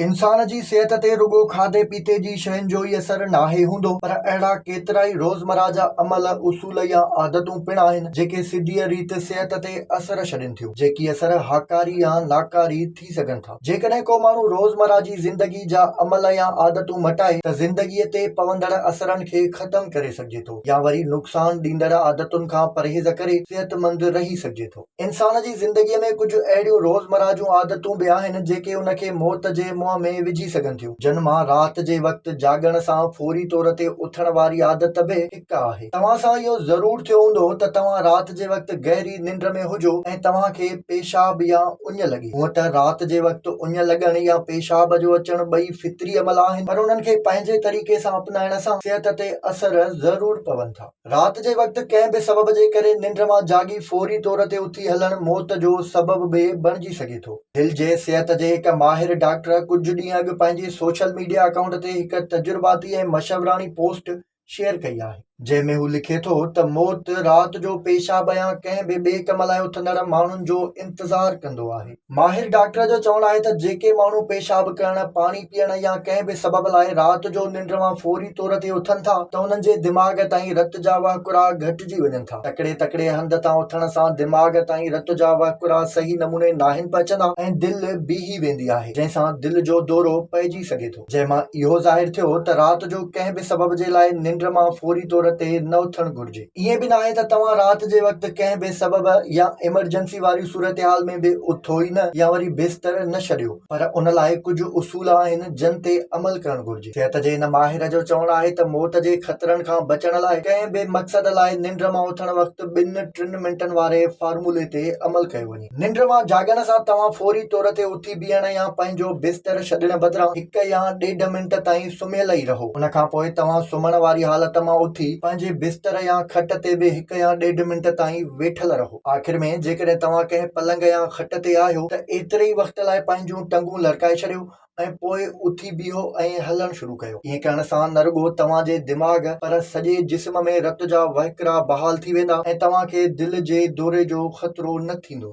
انسان جي صحت تي رڳو کاڌي پيتي جي شين جو ئي اثر ناهي هوندو پر اهڙا ڪيترائي روزمره جا عمل، اصول يا عادتون پڻ آهن جيڪي سڌيء ريت صحت تي اثر ڇڏين ٿيون، جيڪي اثر هاڪاري يا ناڪاري ٿي سگهن ٿا. جيڪڏهن ڪو ماڻهو روزمره جي زندگي جا عمل يا عادتون مٽائي ته زندگيء تي پوندڙ اثرن کي ختم ڪري سگهجي ٿو يا وري نقصان ڏيندڙ عادتن کان پرهيز ڪري صحتمند رهي سگهجي ٿو. انسان جي زندگيء ۾ ڪجهه اهڙيون روزمره جون عادتون به آهن، جيڪي ان کي موت جي منهن ۾ وجهي سگهن ٿيون. جن مان رات جي وقت جاڳڻ سان فوري طور تي اٿڻ واري عادت به هڪ آهي. توهان سان اهو ضرور ٿيو هوندو ته توهان رات جي وقت گهري ننڊ ۾ هجو ۽ توهان کي پيشاب يا اڃ لڳي. هونء ته رات جي وقت اڃ لڳڻ يا پيشاب جو اچڻ ٻئي فطري عمل آهن، پر انهن کي پنهنجي طريقي سان اپنائڻ سان صحت تي اثر ضرور پون ٿا. رات جي وقت ڪنهن به سبب جي ڪري ننڊ مان جاڳي فوري طور تي اٿي هلڻ موت جو سبب به بڻجي سگهي ٿو. دل جي صحت جي هڪ ماهر ڊاڪٽر ڪجهه ڏينهن اڳ پنهنجي سوشل ميڊيا اڪائونٽ تي هڪ تجرباتي ۽ مشوراڻي پوسٽ شيئر ڪئي آهي، جنهن ۾ هو لکي ٿو ته موت رات جو پيشاب يا ڪنهن به ٻئي ڪم لاء اٿندڙ ماڻهن جو انتظار ڪندو آهي. ماهر ڊاڪٽر جو چوڻ آهي ته جيڪي ماڻهو پيشاب ڪرڻ، پاڻي پيئڻ يا ڪنهن به سبب لاء رات جو ننڊ مان فوري طور تي اٿن ٿا ته انهن جي دماغ تائين رت جا وهڪرا گهٽجي وڃن ٿا. تڪڙي تڪڙي هنڌ تان اٿڻ سان دماغ تائين رت جا وهڪرا صحيح نموني ناهن پهچندا ۽ دل بيهي ويندي آهي جنهن سان دل جو دورو پئجي سگهي ٿو. جنهن مان اهو ظاهر ٿيو ته رات جو ڪنهن به سبب جي لاء ننڊ مان فوري طور تي نه اٿڻ گهرجي. ائين به ناهي ته توهان رات جي وقت ڪنهن به سبب يا ايمرجنسي واري صورتحال ۾ به اٿو ئي نه يا وري بستر نه ڇڏيو پر ان لاء ڪجهه اصول آهن جن تي عمل ڪرڻ گهرجي. صحت جي هن ماهر جو چوڻ آهي ته موت جي خطرن کان بچڻ لاء ڪنهن به مقصد لاء ننڊ مان اٿڻ وقت ٻن ٽن منٽن واري فارمولي تي عمل ڪيو وڃي. ننڊ مان جاڳڻ سان توهان فوري طور تي اٿي بيهڻ يا پنهنجو بستر ڇڏڻ بدران هڪ يا ڏيڍ منٽ تائين سمهيل ئي رهو. ان کان پوء توهان سمهڻ واري حالت مان اٿي پنهنجي بستر يا کٽ تي به هڪ يا ڏيڍ منٽ تائين ويٺل رهو. آخر ۾ جيڪڏهن توهان ڪنهن پلنگ يا کٽ تي آهيو ته ايتري ئي وقت لاء پنهنجون ٽنگون لرڪائي ڇڏيو ۽ پوء اٿي بيهو ۽ هلڻ شروع ڪيو. ائين ڪرڻ سان نه رڳو توهان جي دماغ پر سڄي جسم ۾ رت جا وهڪرا بحال ٿي ويندا ۽ توهان کي دل جي دوري جو خطرو نه ٿيندو.